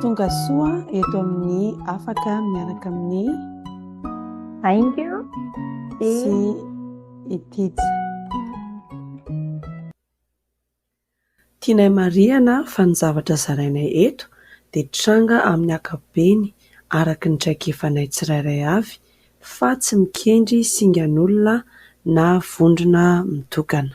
Tonga soa eto amin'ny afaka miaraka amin'ny Aingo sy Itija. Tianay marihana fa ny zavatra zarainay eto dia tranga amin'ny ankapobeny araka ny traikefanay tsirairay avy fa tsy mikendry singan'olona na vondrona mitokana.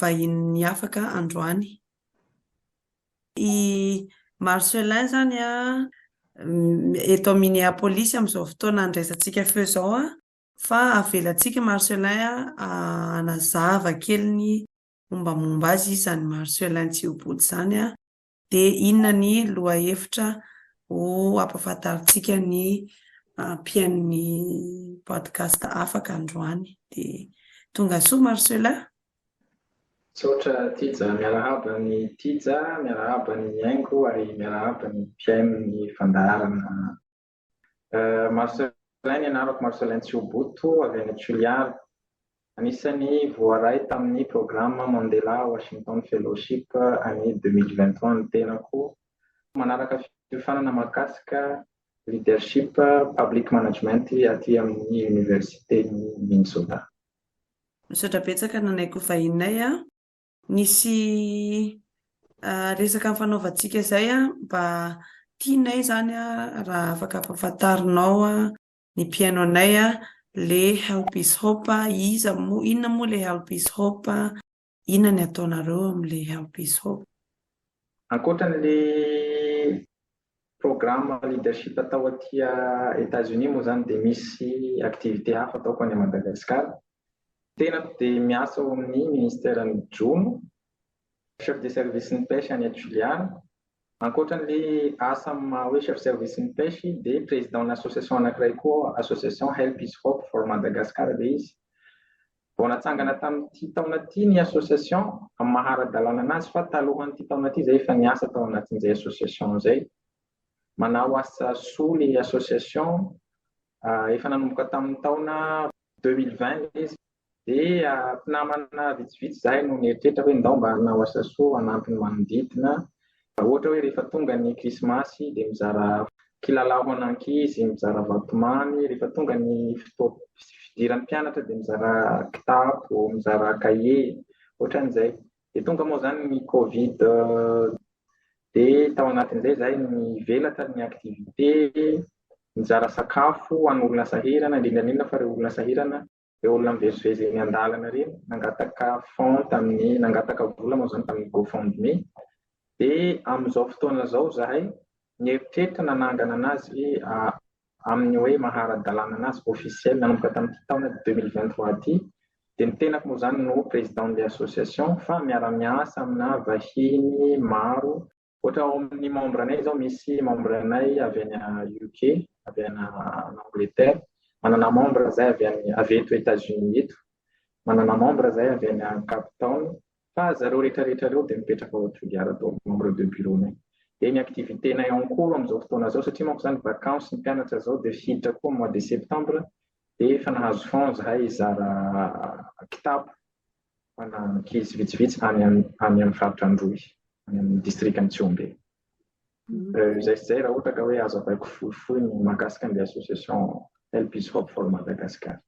vahinin'ny afaka androany. I Marcelin izany eto Minneapolis amin'izao fotoana andraisantsika feo izao fa avelantsika i Marcelin hanazava kely ny mombamomba azy, iza ny Marcelin Tsiobody izany Dia inona ny lohahevitra ho ampahafantarintsika ny mpihainon'ny podcast afaka androany? Dia tongasoa Marcelin. Misaotra Tija, miarahaba an'i Tija, miarahaba an'i Aingo ary miarahaba ny mpihaino ny fandaharana Marcelin ny anarako, Marcelin Tsihoboto avy any Toliara. Anisan'ny voaray tamin'ny programa Mandela Washington Fellowship an'i 2023 ny tenako. Manaraka fiofanana mahakasika leadership public management aty amin'ny Oniversiten'i Minnesota. Misaotra betsaka nanaiky ho vahininay a! Nisy resaka nifanaovantsika izay an, mba tianay izany an, raha afaka ampafantarinao an, ny mpihaino anay an, le Help is Hope an, iza moa, inona moa le Help is Hope an, inona ny ataonareo amle Help is Hope. Ankoatran'le programme leadership atao aty Etats Unis moa zany dia misy activité hafa ataoko any Madagascar. Tenako dia miasa ao amin'ny ministeran'ny jono, chef de service ny pêche any Atchilian. Ankoatran'le asa amin'ny maha hoe chef service ny pêche dia président association anankiray koa association Help is Hope for Madagascar ilay izy. Vao natsangana tamin'ity taona ity ny association amin'ny maha ara-dalàna anazy fa talohan'ity taona ity izay efa niasa tao anatin'izay association izay. Manao asa soa ilay association, efa nanomboka tamin'ny taona deux mille vingt ilay izy dia mpinamana vitsivitsy izahay no nieritreritra hoe ndao mba hanao asa soa hanampy ny manodidina Ohatra hoe rehefa tonga ny krismasy dia mizara kilalao ho an'ankizy, mizara vatomamy, rehefa tonga ny fotoam fidiran'ny mpianatra dia mizara kitapo, mizara kahie, ohatran'izay. Dia tonga moa izany ny covid dia tao anatin'izay izahay nivelatra ny activité, nizara sakafo ho an'olona sahirana, indrindra indrindra fa ireo olona sahirana. Ireo olona mivezivezy eny an-dalana ireny nangataka fonds tamin'ny nangataka vola moa izany tamin'ny GoFundMe dia amin'izao fotoana izao izahay nieritreritra nanangana anazy amin'ny hoe mahara-dalàna anazy officiel nanomboka tamin'ity taona deux mille vingt trois ity dia ny tenako moa izany no président de l'association fa miara-miasa amina vahiny maro Ohatra ao amin'ny membre anay izao misy membre anay avy any UK, avy any Angleterre, manana membre zay avy any avy eto Etats-Unis eto, manana membre zay avy any Cape Town, fa zareo rehetra rehetra ireo dia mipetraka ao Juilliard daholo, membre de bureau-nay. Dia ny activité-nay en cours amin'izao fotoana izao, satria manko izany vacances ny mpianatra izao dia hiditra koa mois de septembre, dia efa nahazo fonds zahay hizara kitapo, Ahitana ankizy vitsivitsy any amin'ny faritra Androy, any amin'ny distrikan'i Tsihombe. Euh, izay sy izay raha ohatra ka hoe azo avaiko fohifohy ny mahakasika ny association Help is Hope for Madagascar.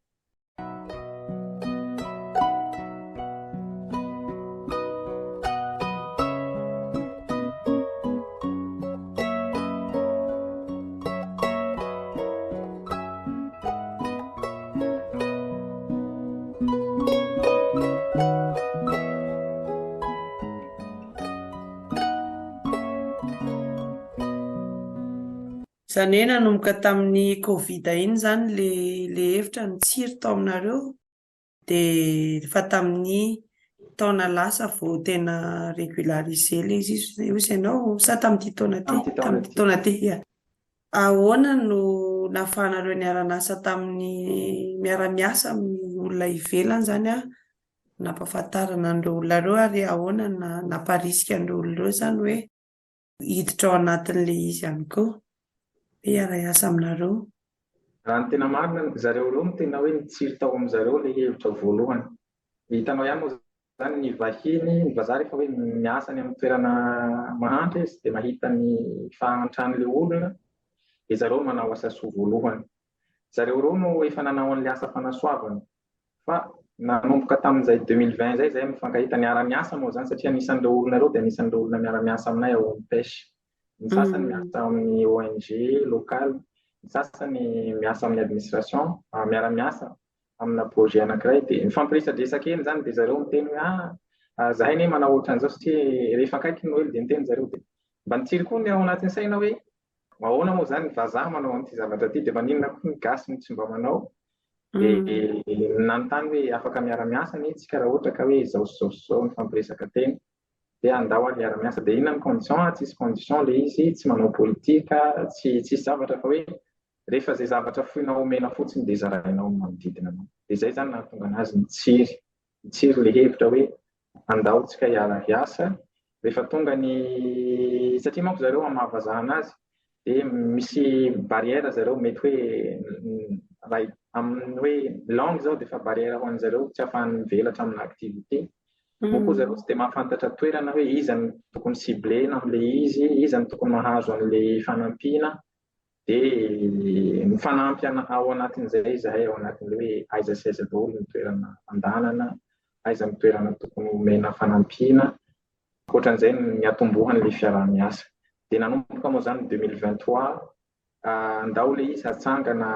Izany hoe nanomboka tamin'ny Covid iny izany le le hevitra nitsiry tao aminareo dia efa tamin'ny taona lasa vao tena régularisé le izy io izy ianao sa tamin'ity taona ty tamin'ity taona ty Ahoana no nahafahanareo niara-niasa tamin'ny miara-miasa amin'ny olona ivelany izany nampahafantarana an'ireo olona ireo ary ahoana no namparisika an'ireo olona ireo izany hoe hiditra ao anatin'ilay izy ihany koa hoe hiara-hiasa aminareo? Raha ny tena marina, zareo ireo no tena hoe nitsiry tao amin-dry zareo ilay hevitra voalohany. Hitanao ihany moa Zany ny vahiny, ny vazaha rehefa hoe miasa any amin'ny toerana mahantra izy dia mahita ny fahantran'ilay olona dia zareo manao asa soa voalohany. Zareo ireo no efa nanao an'ilay asa fanasoavana. Fa nanomboka tamin'izay 2020 izay izay mifankahita niara-miasa moa izany satria anisan'ireo olona ireo dia anisan'ireo olona miara-miasa aminay ao amin'ny pêche. Ny sasany miasa amin'ny ONG locale, ny sasany miasa amin'ny administration, miara-miasa amina projet anankiray dia mifampiresadresaka eny izany dia zareo miteny hoe ah, ah zahay ne manao ohatran'izao satria rehefa akaiky ny noely dia miteny zareo dia mba nitsiry koa ny ao anatin'ny saina hoe ahoana moa izany vazaha manao an'ity zavatra ity dia maninona koa ny gasy no tsy mba manao dia mm. nanontany hoe afaka miara-miasa ny tsika raha ohatra ka hoe izao sy izao sy izao mifampiresaka teny dia andao ary hiara miasa dia inona ny condition a, tsisy condition le izy, tsy manao politika, tsy tsisy zavatra fa hoe rehefa zay zavatra foinao omena fotsiny dia zarainao amin'ny manodidina anao dia zay zany nahatonga anazy nitsiry nitsiry le hevitra hoe andao tsika hiara hiasa rehefa tonga ny satria manko zareo amavazahana azy dia misy barrière zareo mety hoe raha amin'ny hoe langue zao dia efa barrière ho an'ny zareo tsy afahany mivelatra amina activité moa koa zareo tsy dia mahafantatra toerana hoe iza no tokony ciblena amle izy iza no tokony mahazo anle fanampiana dia mifanampy ao anatin'izay izahay ao anatin'le hoe aiza sy aiza daholo ny toerana andanana aiza ny toerana tokony omena fanampiana Ankoatran'izay, ny atombohan'ilay fiaraha-miasa. Dia nanomboka moa izany ny deux mille vingt trois, handao ilay izy hatsangana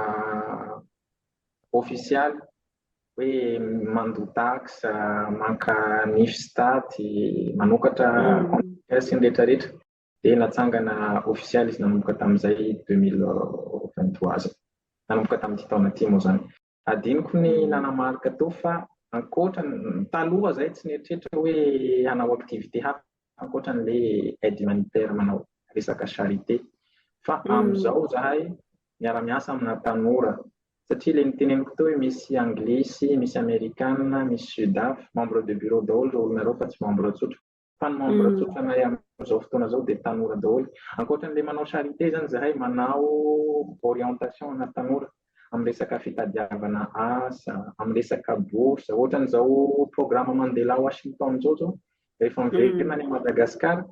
ofisialy hoe mandoa taxe, maka nifs taty, manokatra sy ny rehetrarehetra. Dia natsangana ofisialy izy nanomboka tamin'izay deux mille vingt trois, nanomboka tamin'ity taona ity moa izany. Hadinoko ny nanamarika teo fa ankoatra, taloha izay tsy nieritreritra hoe hanao activité hafa ankoatra an'ilay aide humanitaire manao resaka charité. Fa amin'izao izahay miara-miasa amina tanora satria ilay niteneniko teo hoe misy anglisy, misy amerikana, misy sudaf, membre de bureau daholo ireo olona ireo fa tsy membre tsotra. Tany membre tsotranay amin'izao fotoana izao dia tanora daholo. Ankoatran'ilay manao charité izany izahay, manao orientation ana tanora amin'ny resaka fitadiavana asa, amin'ny resaka bourse. Ohatran'izao programme Mandela Washington izao izao, rehefa miverina any Madagascar,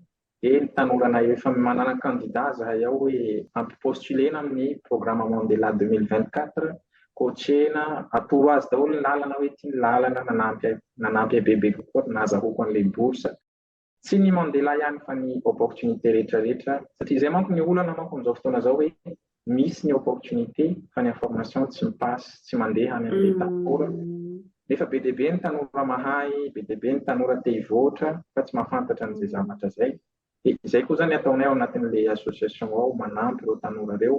dia ny tanoranay efa manana candidat izahay ao hoe ampipostulena amin'ny programme Mandela 2024 Kotrehina, atoro azy daholo ny lalana hoe ity ny lalana nanampy nanampy ahy bebe kokoa ary nahazahoako an'ilay bourse. Tsy ny Mandela ihany fa ny opportunité rehetra rehetra satria izay manko ny olana manko amin'izao fotoana izao hoe misy ny opportunité fa ny information tsy mi-passe, tsy mandeha any amin'ilay tanora nefa be dia be ny tanora mahay, be dia be ny tanora te hivoatra fa tsy mahafantatra an'izay zavatra izay. Dia izay koa izany ny ataonay ao anatin'ilay association ao, manampy ireo tanora ireo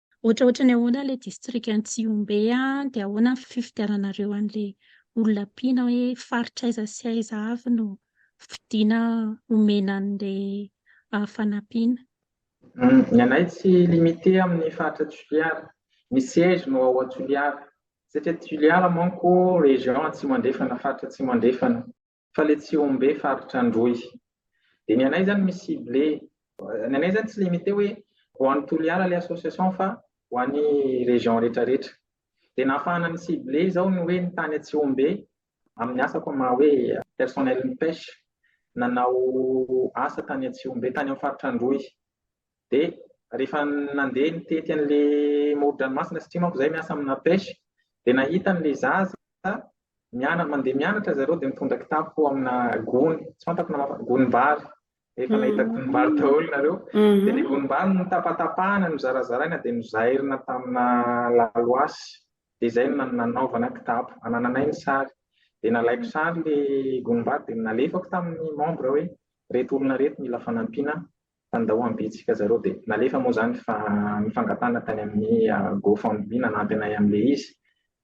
Ohatraohatry ny ahoana ilay distrikan'i Tsihombe an, dia ahoana ny fifidiananareo an'ilay olona ampiana hoe faritra aiza sy aiza avy no fidiana omena an'ilay fanampiana? Ny anay tsy limite amin'ny faritra Toliara, ny siège no ao Toliara, satria Toliara manko région Atsimo Andrefana, faritra Atsimo Andrefana. fa le Tsihombe faritra Androy de ny anay zany misy cible ny anay zany tsy limite hoe ho any Toliara le association fa ho any région rehetra rehetra de nahafahana ny cible zao ny hoe ny tany Atsihombe amin'ny asako maha hoe personnel ny pêche nanao asa tany Atsihombe tany amin'ny faritra Androy Dia rehefa nandeha nitety an'ilay moron-dranomasina satria manko izahay miasa amina pêche dia nahita an'ilay zaza mianatra mandeha mianatra zareo dia mitondra kitapo amina gony tsy fantako na gonim-bary efa nahita gonim-bary daholo nareo mhm. dia ny gonim-bary no tapatapahana no zarazaraina dia no zairina tamina laloasy dia izay no nanaovana kitapo anananay ny sary dia nalaiko sary le gonim-bary dia nalefako tamin'ny membre hoe reto olona reto mila fanampiana Tandao ambitsika zareo dia nalefa moa izany fa nifangatahana tany amin'ny go fund me nanampy anay amin'ilay izy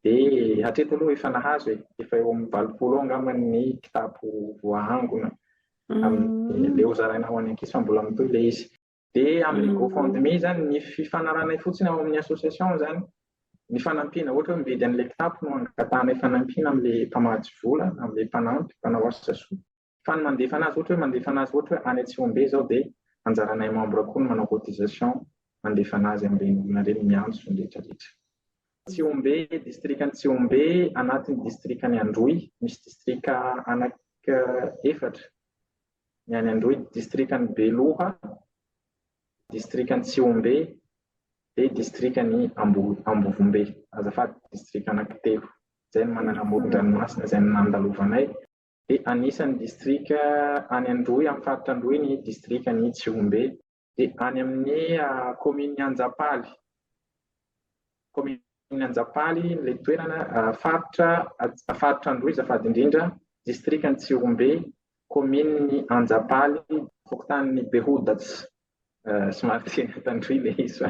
dia hatreto aloha efa nahazo e, efa eo amin'ny valopolo eo angamba ny kitapo voahangona amin'ny leo zaraina ho any ankizy fa mbola mitohy ilay izy. Dia amin'ny go fund me izany ny fifanarahanay fotsiny ao amin'ny association izany ny fanampiana ohatra hoe mividy an'ilay kitapo no angatahanay fanampiana amin'ilay mpamatsy vola, amin'ilay mpanampy, mpanao asa soa. Fa ny mandefa anazy ohatra hoe mandefa anazy ohatra hoe any Atsihombe izao dia anjaranay membre koa ny manao cotisation mandefa anazy amin'ireny olona ireny miantso izany rehetra rehetra. Tsihombe, distrikan'i Tsihombe anatin'ny distrikan'i Androy, misy distrika anaky efatra, ny any Androy, distrikan'i Beloha, distrikan'i Tsihombe, dia distrikan'i Ambovombe, azafady, distrika anaky telo, izay no manana amoron-dranomasina izay no nandalovanay. dia anisan'ny distrika any Androy, amin'ny faritra Androy ny distrikan'i Tsihombe. Dia any amin'ny kaominin'i Anjapaly, kaominin'i Anjapaly ilay toerana, faritra faritra Androy azafady indrindra, distrikan'i Tsihombe, kaominin'i Anjapaly, fokontanin'i Behoudats, somary tsy tandroy ilay izy fa.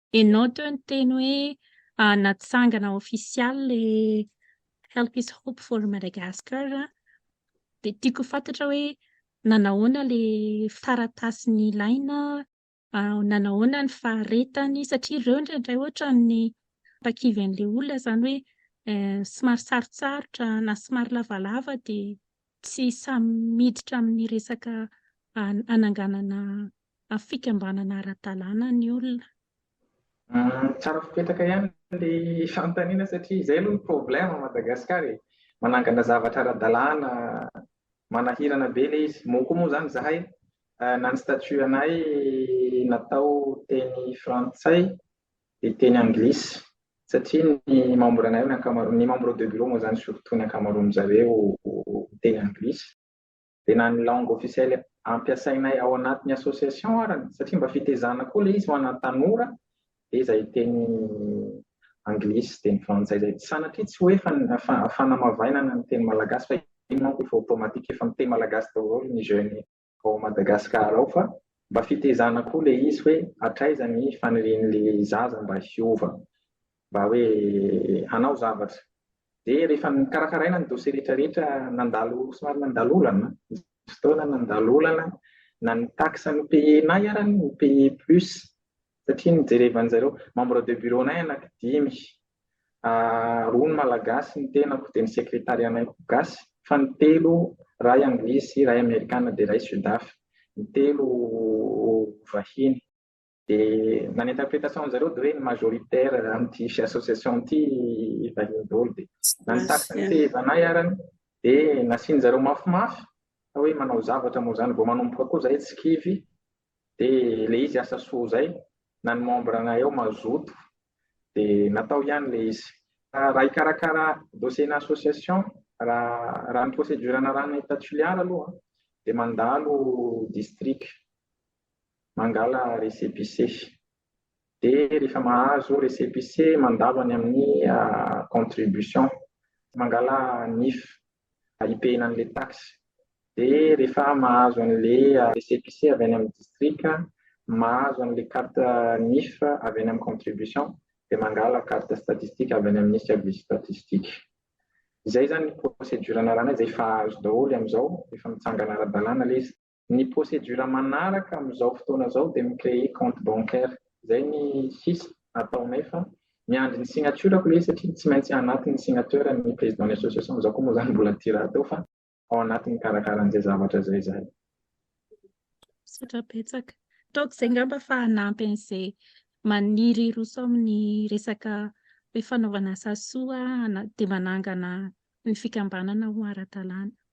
Enao teo niteny hoe natsangana ofisialy le Help is Hope for Madagascar a, dia tiako ho fantatra hoe nanahoana le taratasy nilaina, nanahoana ny faharetany satria ireo indraindray ohatran'ny mpakivy an'ilay olona izany hoe somary sarotsarotra na somary lavalava dia Tsy samy miditra amin'ny resaka hananganana fikambanana ara-dalàna ny olona. Tsara fipetraka ihany ilay fanontaniana satria izay aloha ny problème à Madagascar e! Manangana zavatra ara-dalàna, manahirana be ilay izy. Moa koa moa izany izahay na ny statut anay natao teny frantsay dia teny anglisy satria ny membre anay ny ankamaroany, ny membre de bureau moa izany surtout ny ankamaroan'ny zareo miteny anglisy dia na ny langue officielle ampiasainay ao anatin'ny association arany satria mba fitezana koa ilay izy ho ana tanora dia izay teny anglisy, teny frantsay izay, sanatria tsy hoe fanamavainana ny teny malagasy fa iny manko efa automatique efa miteny malagasy daholo ny jeunes. ao Madagascar ao fa mba fitezana koa le izy hoe hatraiza ny fanirian'le zaza mba hiova mba hoe hanao zavatra de rehefa nikarakaraina ny dossier rehetra rehetra nandalo somary nandalo olana fotoana nandalo olana na ny taxe no payenay arany no paye plus Satria nijerevan zareo membre de bureau nay anaky dimy roa ny malagasy ny tenako de ny secretariat nay ko gasy fa ny telo ray anglisy iray amerikana de ray sudaf ny telo vahiny de na ny interpretation zareo de hoe ny majoritaire amty association ty vahiny dolo de na ny taxe ny fehevanay arany de nasin zareo mafimafy fa hoe manao zavatra moa zany vao manomboka koa zahay tsy kivy De le izy asa soa zay na ny membre anay ao mazoto de natao ihany le izy. Raha hikarakara dossier na association raha raha ny procédure anarahana etat Toliara aloha de mandalo district mangala récépissé de rehefa mahazo récépissé mandalo any amin'ny contribution mangala NIF. hipehina an'ilay taxe. Dia rehefa mahazo an'ilay récépissé avy any amin'ny distrika, mahazo an'ilay carte NIF avy any amin'ny contribution, dia mangala carte statistique avy any amin'ny service statistique. Izay izany ny procédure anaranay izay efa azo daholo amin'izao, efa mitsangana ara-dalàna ilay izy. Ny procédure manaraka amin'izao fotoana izao dia mi-créer compte bancaire. Izay ny sisa ataonay fa miandry ny signature-ko ilay izy satria tsy maintsy anaty ny signateur ny président ny association. Izaho koa moa izany mbola tsy rahateo fa ao anaty ny karakaran'izay zavatra izay izahay. Misaotra betsaka. Ataoko izay ngamba fa hanampy an'izay maniry hiroso amin'ny resaka hoe fanaovana asa soa dia manangana ny fikambanana ho ara-dalàna.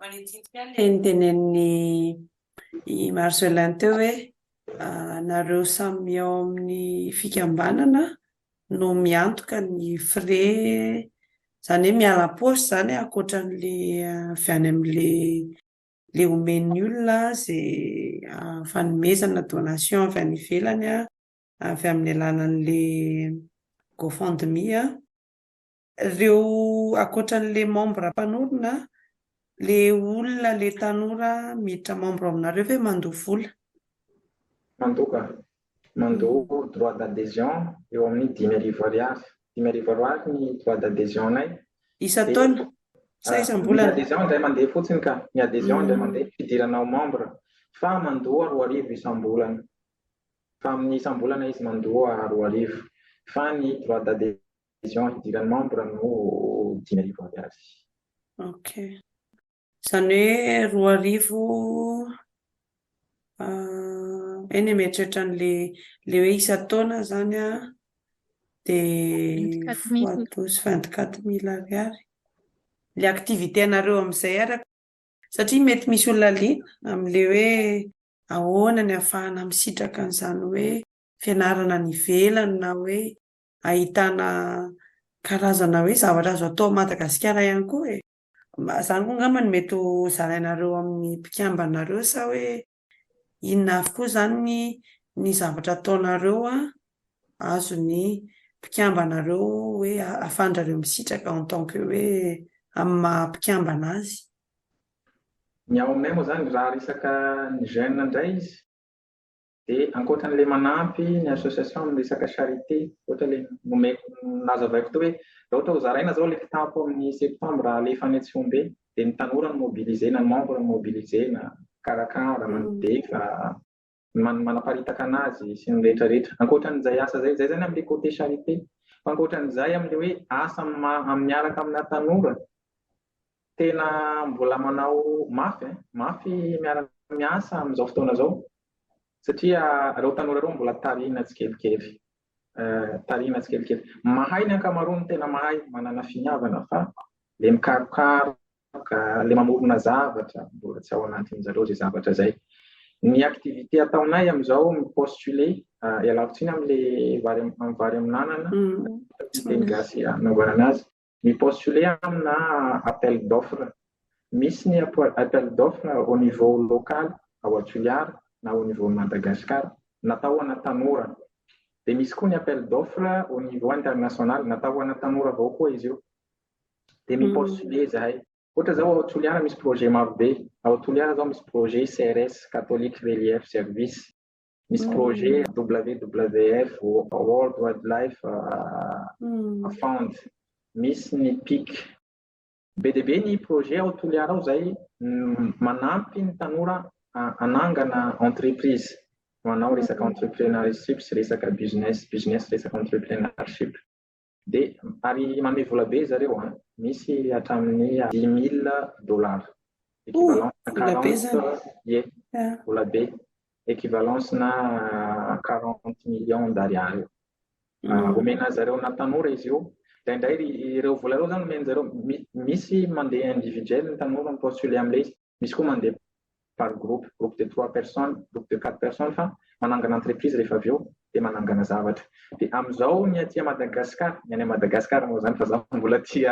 Manitsidika ilay notenenin'i i Marcelin teo hoe nareo samy ao amin'ny fikambanana no miantoka ny frais izany hoe miala am-paosy izany ankoatra an'ilay avy any amin'ilay ilay omen'ny olona izay fanomezana donation avy any ivelany avy amin'ny alalan'ilay GoFundMe an. Reo akoatran le membre mpanorina le olona le tanora miditra membre aminareo ve mandoa vola? Mandoa ka. Mandoa droit d'adhesion eo amin'ny dimy arivo ariary. Dimy arivo ariary ny droit d'adhesion anay. Isan-taona? Sa isam-bolana? Ny adhesion indray mandeha fotsiny ka. Ny adhesion indray mandeha, fidirana ho membre. Fa mandoa roa arivo isam-bolana. Fa amin'ny isam-bolana izy mandoa roa arivo. Fa ny droit d'adhesion. Adhesion hidiran'ny membre no dimy arivo ariary. Ok. Izany hoe roa arivo eny ah, mieritreritra an'le le hoe isan-taona zany a dia fois douze vingt quatre mille ariary. Le activité anareo amin'izay araka satria mety misy olona liana amin'le hoe ahoana ny afahana misitraka an'izany hoe fianarana any ivelany na hoe ahitana karazana hoe zavatra azo atao Madagasikara ihany koa e! Zany koa angamba no mety ho zarainareo amin'ny mpikambanareo sa hoe inona avy koa zany ny zavatra ataonareo azon'ny mpikambanareo hoe ahafahandrareo misitraka en tant que hoe amin'ny maha mpikambana azy? Ny ao aminay moa zany raha resaka ny jeune ndray izy, Dia ankoatra an'ilay manampy ny association amin'ny resaka charité, ohatra ilay nomeko nazavaiko teo hoe raha ohatra ho zaraina izao ilay kitapo amin'ny septembre alefa any Tsihombe dia ny tanora no mobiliser na ny membre no mobiliser na mikarakara, mandefa, manaparitaka anazy sy ny rehetra rehetra. Ankoatra an'izay asa izay, izay izany amin'ilay côté charité. Fa ankoatra an'izay amin'ilay hoe asa miaraka amina tanora Tena mbola manao mafy eh, mafy miara miasa amin'izao fotoana izao satria ireo tanora ireo mbola tarihina tsikelikely. Tarihina tsikelikely. Mahay ny ankamaroany tena mahay, manana finiavana fa le mikarokaroka, le mamorona zavatra, mbola tsy ao anatin'ny zareo izay zavatra izay. Ny activité ataonay amin'izao mi-postuler, ialako tsiny amin'le vary amin'anana, teny gasy anaovana anazy. Mi-postuler amina appel d'offre. Misy ny appel d'offre au niveau local ao Antoliara na au niveau Madagascar natao ho ana tanora. Dia misy koa ny appel d'offre au niveau international, natao ho ana tanora avao koa izy io. Dia mi-postuler izahay. Ohatra izao ao Toliara misy projet marobe. Ao Toliara izao misy projet CRS, Catholic Relief Service. Misy projet WWF, World Wildlife Fund, misy ny PIC. Be dia be ny projet ao Toliara ao izay manampy ny tanora hanangana entreprise, manao resaka entrepreneurship sy resaka business, business resaka entrepreneurship. Be, ary manome vola be zareo an! Misy hatramin'ny dix mille dollars, equivalence-na quarante, ie, vola be, equivalence-na quarante millions d'ariary eo. Omena zareo na tanora izy io, indraindray ireo vola ireo zany omeny zareo, misy mandeha individuel ny tanora mi-postuler amin'ilay izy. Misy koa mandeha par groupe, groupe de trois personnes, groupe de quatre personnes fa manangana entreprise rehefa avy eo dia manangana zavatra. Dia amin'izao ny aty Madagascar, ny any Madagascar moa izany fa za mbola aty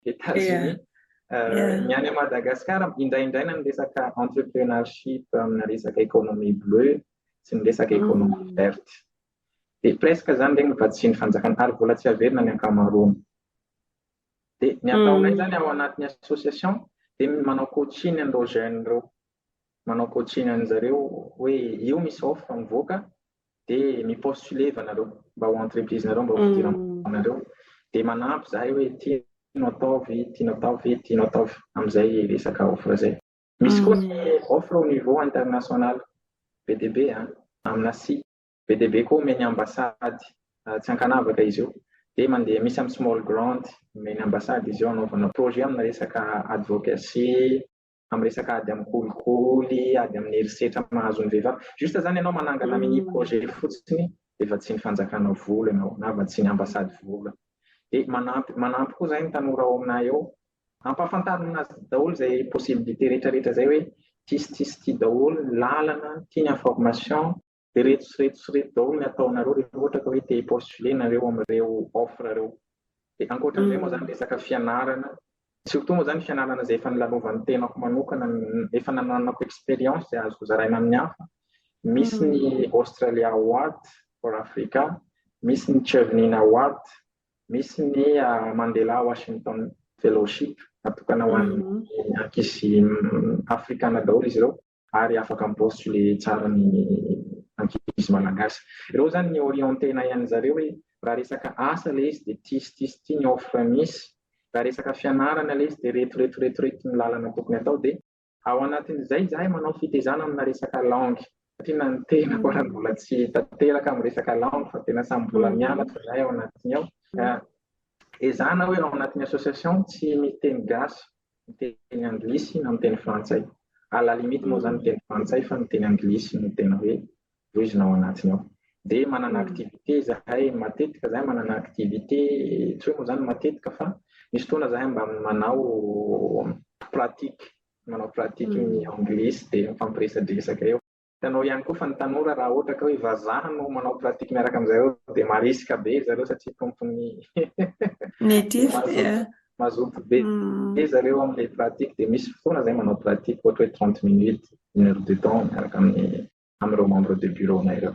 Etats-Unis, ny any Madagascar indraindraina ny resaka entrepreneurship amina resaka économie bleue sy ny resaka économie verte. Dia presque izany regny vatsian'ny fanjakana ary mbola tsy averina ny ankamaroany. Dia ny ataonay izany ao anatin'ny association dia manao coaching an'ireo jeunes ireo. Manao coaching an'i zareo hoe io misy offre mivoaka dia mi-postuler ianareo mba ho entreprise-nareo mba ho fidiram-bolanareo. Hmm. Dia manampy izahay hoe tianao atao ve, tianao atao ve, tianao atao ve amin'izay resaka offre izay. Misy koa hmm. ny offre au niveau international be dia be an, amina site. be dia be koa omeny ambassade tsy ankanavaka izy io dia mandeha misy amin'ny small grant omeny ambassade izy io anaovana projet amina resaka advocacy amin'ny resaka ady amin'ny kolikoly ady amin'ny herisetra mahazo ny vehivavy juste zany ianao manangana mini projet fotsiny dia vatsian'ny fanjakana vola ianao na vatsian'ny ambassade vola dia manampy manampy koa zay ny tanora ao aminay eo ampahafantarina azy daholo izay possibilité rehetrarehetra izay hoe tis tis ti daholo lalana tiany information Dia reto sy reto sy reto daholo ny ataonareo rehefa ohatra ka hoe te hi-postuler nareo amin'ireo offre ireo. Dia ankoatran'izay moa izany resaka fianarana, surtout moa izany fianarana izay efa nilalovan'ny tenako manokana, efa nananako expérience izay azoko zaraina amin'ny hafa, misy ny Australia Award for Africa, misy ny Chevening Award, misy ny Mandela Washington Fellowship natokana ho an'ny ankizy afrikana daholo izy ireo. ary afaka mi-postuler tsara ny ankizy malagasy. Ireo zany ny orienter-na ian zareo hoe raha resaka asa le izy de ty sy ty sy ty ny offre misy, raha resaka fianarana le izy de reto reto reto reto ny lalana tokony atao de ao anatin' izay izahay manao fitezana amina resaka langue satria na ny tenako ara mbola tsy tanteraka am resaka langue fa tena samy mbola mianatra izahay ao anatiny ao ka ezahana hoe ao anatin'ny association tsy miteny gasy ny teny anglisy na ny teny frantsay. À la limite moa zany ny teny frantsay fa ny teny anglisy no tena hoe voizina ao anatiny ao. Dia manana activité zahay matetika zahay manana activité tsy hoe moa zany matetika fa misy fotoana zahay mba manao pratique manao pratique ny anglisy dia mifampiresadresaka eo. Hitanao ihany koa fa ny tanora raha ohatra ka hoe vazaha no manao pratique miaraka amin'izareo dia marisika be zareo satria tompon'ny native mazoto be mm. be zareo amin'ilay pratique dia misy fotoana zay manao pratique ohatra hoe 30 minutes une heure de temps miaraka amin'ny amin'ireo membre de bureau-na ireo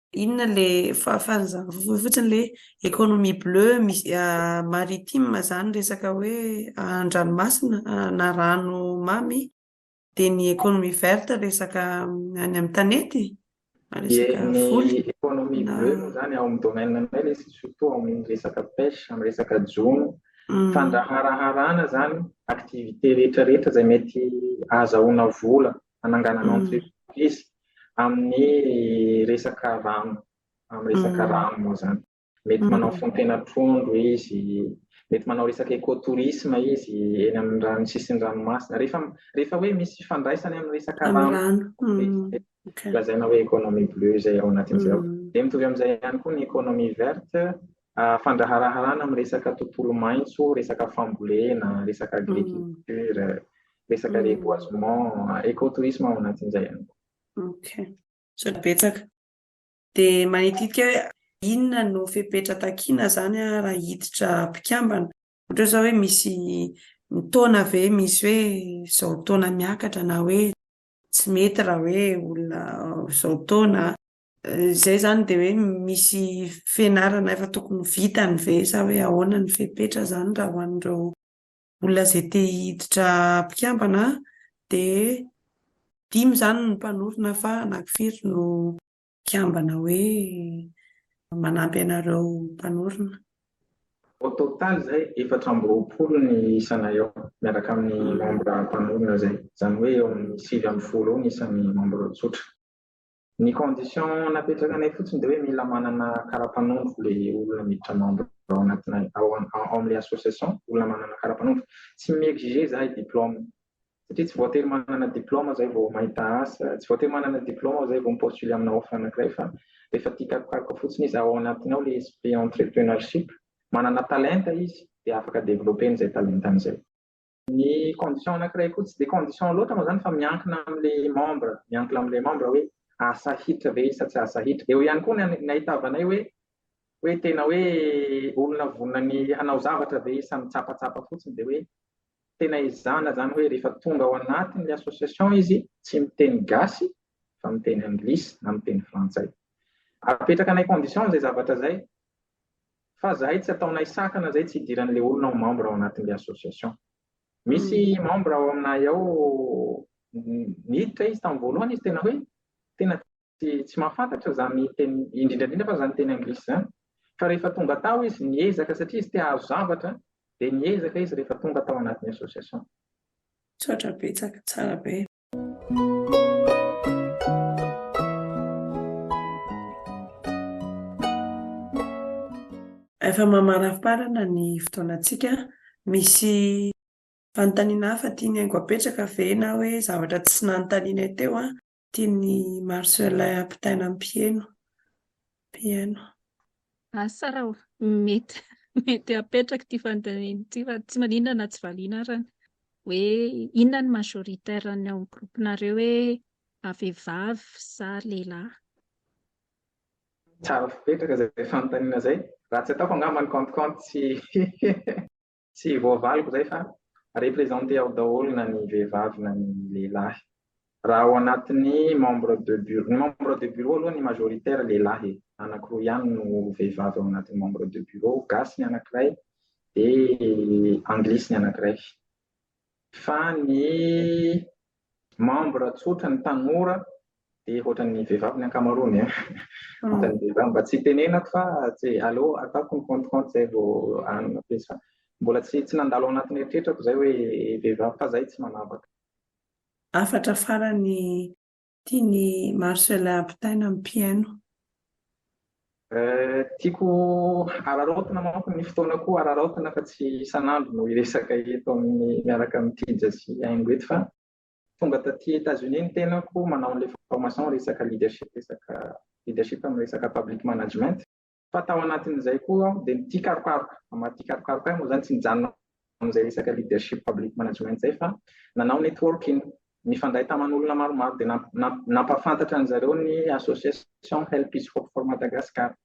Inona le fahafahana zany voa fotsiny le economie bleu misy maritime zany resaka hoe andranomasina na rano mamy de ny economie verte resaka any amin'ny tanety na resaka voly economie bleu moa zany ao amin'ny domaine anay le surtout ao amin'ny resaka pêche amin'ny resaka jono fandraharaharana zany activité rehetra rehetra zay mety ahazahoana vola hananganana entreprise amin'ny resaka rano, amin'ny resaka rano moa izany. Mety manao fontena trondro izy, mety manao resaka écotourisme izy eny amin'ny rano sisin'ny ranomasina. Rehefa rehefa hoe misy fifandraisany amin'ny resaka rano, lazaina hoe économie bleue izay ao anatin'izay ao. Dia mitovy amin'izay ihany koa ny économie verte, Fandraharaharana amin'ny resaka tontolo maitso, resaka fambolena, resaka agriculture, resaka reboisement, écotourisme ao anatin'izay ihany koa. Ok, misaotra betsaka. Dia manititika hoe inona no fepetra takiana izany raha hiditra mpikambana? Ohatra izao hoe misy ny taona ve misy hoe izao taona miakatra na hoe tsy mety raha hoe olona izao taona? Izay izany dia hoe misy fianarana efa tokony ho vitany ve sa hoe ahoana ny fepetra izany raha ho an'ireo olona izay te hiditra mpikambana dia dimy izany no mpanorina fa anankifiry no mpikambana hoe manampy anareo mpanorina? Au total izay efatra amby roapolo ny isanay ao miaraka amin'ny membre mpanorina izay, izany hoe eo amin'ny sivy ambin'ny folo eo ny isan'ny membre tsotra. Ny condition napetrakanay fotsiny dia hoe mila manana kara-panondro le olona miditra membre ao anatinay ao amin'ilay association, olona manana kara-panondro. Tsy mi-exiger zahay diplôme satria tsy voatery manana diplôme zahay vao mahita asa, tsy voatery manana diplôme aho zahay vao mi-postuler amina offre anankiray fa rehefa tia karokaroka fotsiny izy ao anatiny ao le esprit entrepreneurship, manana talenta izy dia afaka developper-ny izay talentany izay. Ny condition anankiray koa, tsy dia condition loatra moa izany fa miankina amin'ilay membre, miankina amin'ilay membre hoe asahitra ve izy sa tsy asahitra. Eo ihany koa ny an- ny ahitavanay hoe hoe tena hoe olona vonona ny hanao zavatra ve izy sa mitsapatsapa fotsiny dia hoe tena ezahana izany hoe rehefa tonga ao anatin'ilay association izy tsy miteny gasy fa miteny anglisy na miteny frantsay. Apetrakanay condition izay zavatra izay fa zahay tsy ataonay sakana zay tsy hidiran'le olona ho membre ao anatin'le association misy membre ao aminay ao niditra izy tamin'ny voalohany izy tena hoe tena tsy mahafantatra zany teny indrindraindrindra fa zany teny anglisy zany fa rehefa tonga tao izy niezaka satria izy te hahazo zavatra dia niezaka izy rehefa tonga tao anatin'ny association tsotra betsaka tsara be Efa mamarafarana ny fotoanantsika. Misy fanontaniana hafa tian'i Haingo apetraka ve na hoe zavatra tsy nanontanianay teo tian'i Marcelin ampitaina ampiheno? piano. Asa raha mety mety apetraka ity fanontaniana ity fa tsy maninona na tsy valiana arany hoe inona ny majoritaire ny ao groupe nareo hoe vehivavy sa lehilahy. Tsara fipetraka izay fanontaniana izay. Raha tsy ataoko angamba ny compte compte tsy Tsy voavaliko izay fa representer ao daholo na ny vehivavy na ny lehilahy. Raha ao anatin'ny membre de bureau, ny membre de bureau aloha ny majoritaire lehilahy e, anankiroa ihany no vehivavy ao anatin'ny membre de bureau, gasy ny anankiray dia anglisy ny anankiray. Fa ny Membre tsotra ny tanora dia ohatran'ny vehivavy ny ankamaroany eh. Ohatran'ny vehivavy mba tsy tenenako fa tsy allo ataoko ny compte compte zay vao anona pejy fa mbola tsy tsy nandalo ao anatin'ny eritreritako zay hoe vehivavy fa zay tsy manavaka. Hafatra farany tian'i Marcellin ampitaina ny mpihaino. Tiako hararaotina manko ny fotoana koa hararaotina fa tsy isan'andro no hiresaka eto amin'ny miaraka amin'ny Trija sy Haingo eto fa tonga taty Etats-Unis ny tenako manao an'ilay formation resaka leadership resaka leadership amin'ny resaka public management fa tao anatin'izay koa aho dia mitia karokaroka, amin'ny maha tia karokaroka ahy moa izany tsy nijanona amin'izay resaka leadership public management izay fa nanao networking, nifandray taman'olona maromaro dia nampahafantatra an'i zareo ny association Help is Hope for Madagascar.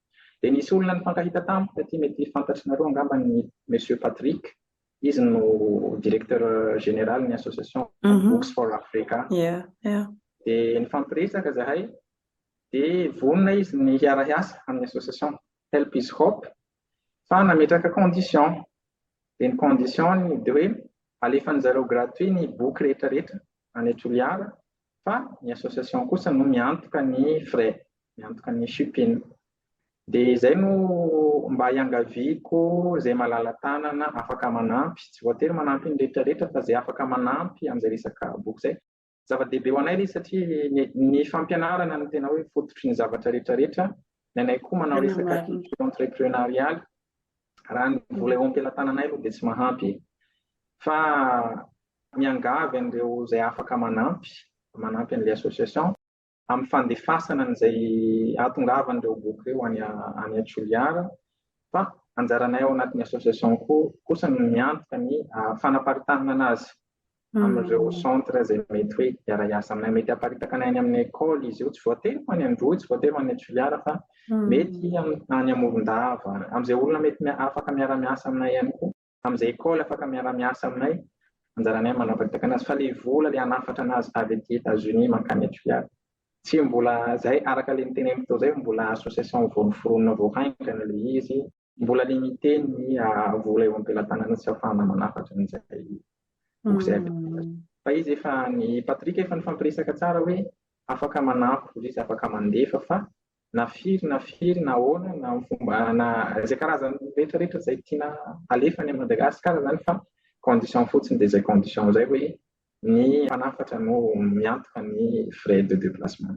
Dia nisy olona nifankahita tamiko taty, mety fantatrinareo angamba ny Monsieur Patrick, izy no directeur général ny association mhm. Books for Africa. Dia nifampiresaka zahay, dia vonona izy ny hiara-hiasa amin'ny association. Help is hope fa nametraka condition dia ny condition ny dia hoe alefany zareo gratuit ny boky rehetra rehetra any Toliara fa ny association kosa no miantoka ny frais miantoka ny shipping dia izay no mba hiangaviako izay malala tanana afaka manampy tsy voatery manampy ny rehetra rehetra fa izay afaka manampy amin'izay resaka boky izay Zava-dehibe ho anay ilay izy satria ny fampianarana no tena hoe fototry ny zavatra rehetra rehetra. Ny anay koa manao resaka entrepreneurial. Raha ny vola eo am-pelatananay aloha dia tsy mahampy. Fa miangavy an'ireo izay afaka manampy, manampy an'ilay association. amin'ny fandefasana an'izay ahatongavan'ireo boky ireo any any Toliara fa anjaranay ao anatin'ny association koa kosa ny miantoka ny fanaparitanana azy hmm. amin'ireo centre izay mety hoe hiara-hiasa aminay mety haparitaka anay any amin'ny école izy io tsy voatery ho any Androy tsy voatery ho any Toliara fa hmm. mety any Amorondava amin'izay olona mety afaka miara-miasa aminay ihany koa amin'izay école afaka miara miasa aminay anjaranay manao vakitakana azy fa le vola le hanafatra anazy avy aty Etats Unis mankany à Toliara tsy mbola zay araka le niteneniko teo zay mbola association vao noforonina vao haingana le izy mbola limité ny vola eo am-pelatanana tsy afahana manafatra an'izay boky zay fa izy efa ny Patrick efa nifampiresaka tsara hoe afaka manampy izy afaka mandefa fa na firy na firy na ahoana na amin'ny fomba na izay karazany rehetra rehetra izay tiana alefa any Madagasikara izany fa condition fotsiny dia izay condition izay hoe ny mpanafatra no miantoka ny frais de déplacement.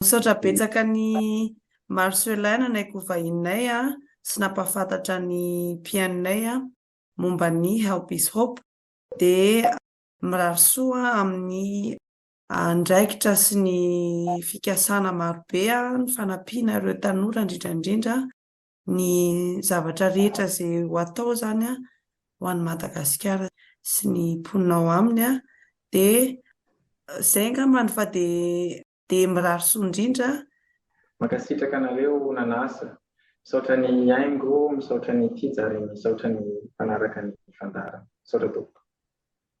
Misaotra betsaka an'i Marcelin nanaiky ho vahininay sy nampahafantatra ny mpihainonay momba ny Help is Hope. Dia mirary soa amin'ny andraikitra sy ny fikasana marobe ny fanampiana ireo tanora indrindra indrindra ny zavatra rehetra izay ho atao izany an, ho an'i Madagasikara sy ny mponina ao aminy an, dia izay angamba no fa dia. Dia mirary soa indrindra. Mankasitraka anareo nanasa. Misaotra ny haingo, misaotra ny tija ary misaotra ny mpanaraka ny fandaharana. Misaotra tompoko.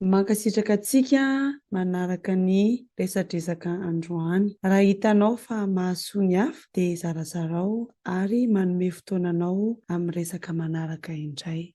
Mankasitraka antsika manaraka ny resadresaka androany. Raha hitanao fa mahasoa ny hafa dia zarazarao ary manome fotoana anao amin'ny resaka manaraka indray.